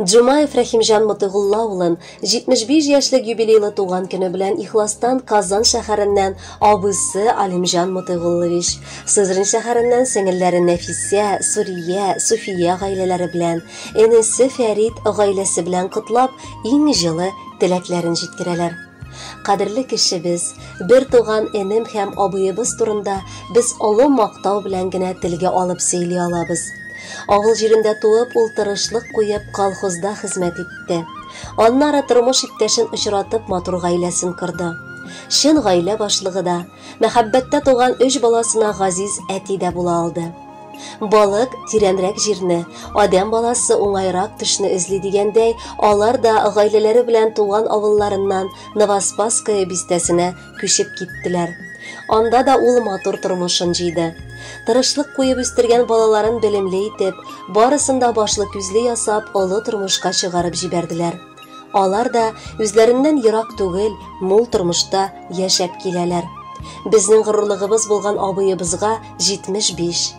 Джумаев Рәхимҗан Мотыйгулла улын 75 яшьлек юбилейлы туган көне белән ихластан Казан шәһәреннән абыйсы Алимҗан Мотыйгуллович, Сызрань шәһәреннән сеңелләре Нәфисә, Сурия, Суфия гаиләләре белән, энесе Фәрит гаиләсе белән котлап, иң җылы теләкләрен җиткерәләр. Кадерле кешебез, Бер туган энем һәм абыебыз турында без олы мактау белән генә телгә алып сөйли алабыз. Авыл җирендә туып, ул тырышлык куеп, колхозда хезмәт итте. Аннары тормыш иптәшен очратып, матур гаиләсен корды. Чын гаилә башлыгы да, мәхәббәттә туган өч баласына газиз әти дә була алды. Балык тирәнрәк җирне, адәм баласы уңайрак төшне эзли дигәндәй, алар да гаиләләре белән туган авылларыннан Новоспасское бистәсенә күчеп киттеләр. Анда да ул матур тормышын җыйды. Тырышлык куеп үстергән балаларын белемле итеп, барысын да башлы күзле ясап, олы тормышка чыгарып җибәрделәр. Алар да үзләреннән ерак түгел, мул тормышта яшәп киләләр. Безнең горурлыгыбыз булган абыебызга 75.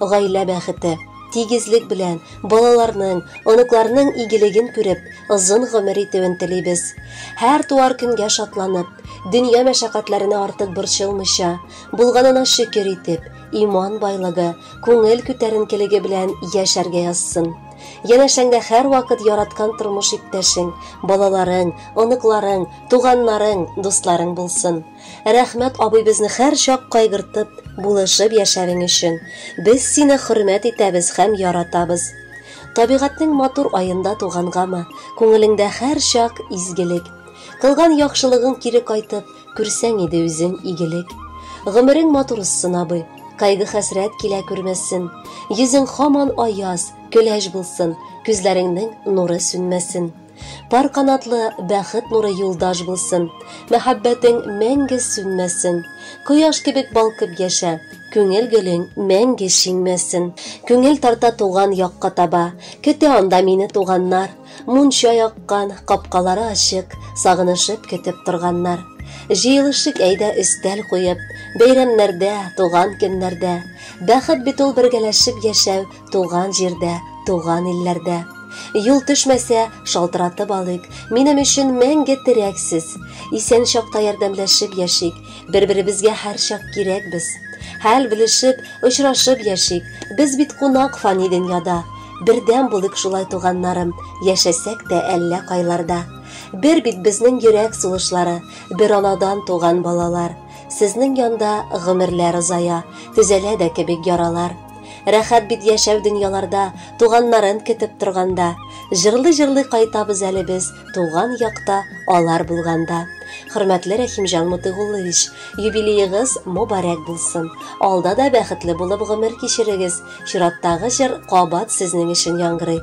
Гаилә бәхете, тигезлек белән, балаларның, оныкларның игелеген күреп, озын гомер итүен телибез. Һәр туар көнгә шатланып, дөнья мәшәкатьләренә артык борчылмыйча, булганына шөкер итеп, иман байлыгы, күңел күтәренкелеге белән яшәргә язсын. Янәшәңдә һәрвакыт яраткан тормыш иптәшең, балаларың, оныкларың, туганнарың, дусларың булсын. Рәхмәт абый безне хәрчак кайгыртып, булышып яшәвең өчен. Без сине хөрмәт итәбез хәм яратабыз. Табигатьнең матур аенда тугангамы, күңелеңдә хәрчак изгелек. Кылган яхшылыгың кире кайтып, күрсәң иде үзең игелек. Гомерең матур узсын, абый. Кайгы хәсрәт килә күрмәсен. Йөзең хаман аяз, көләч булсын, күзләреңнең нуры сүнмәсен. Пар канатлы бәхет нуры юлдаш булсын, Мәхәббәтең мәңге сүнмәсен. Кояш кебек балкып яшә, Күңел гөлең мәңге шиңмәсен. Күңел тарта туган якка таба, Көтә анда мине туганнар. Мунча яккан, капкалары ачык, Сагынышып көтеп торганнар. Җыелышыйк әйдә өстәл куеп, Бәйрәмнәрдә, туган көннәрдә. Бәхет бит ул бергәләшеп яшәү, Туган җирдә, туган илләрдә. Юл төшмәсә, шалтыратып алыйк, минем өчен мәңге терәксез. Исән чакта ярдәмләшеп яшик, бер-беребезгә һәрчак кирәкбез. Хәл белешеп, очрашып яшик, без бит кунак фани дөньяда. Бердәм булыйк шулай туганнарым, яшәсәк тә әллә кайларда. Бер бит безнең йөрәк сулышлары, бер анадан туган балалар. Сезнең янда гомерләр озая, төзәлә дә кебек яралар. Рәхәт бит яшәү дөньяларда, Туганнарын көтеп торганда. Җырлый-җырлый кайтабыз әле без Туган якта алар булганда. Хөрмәтле Рәхимҗан Мотыйгуллович, юбилеегыз мобарәк булсын. Алда да бәхетле булып гомер кичерегез. Чираттагы җыр кабат сезнең өчен яңгырый.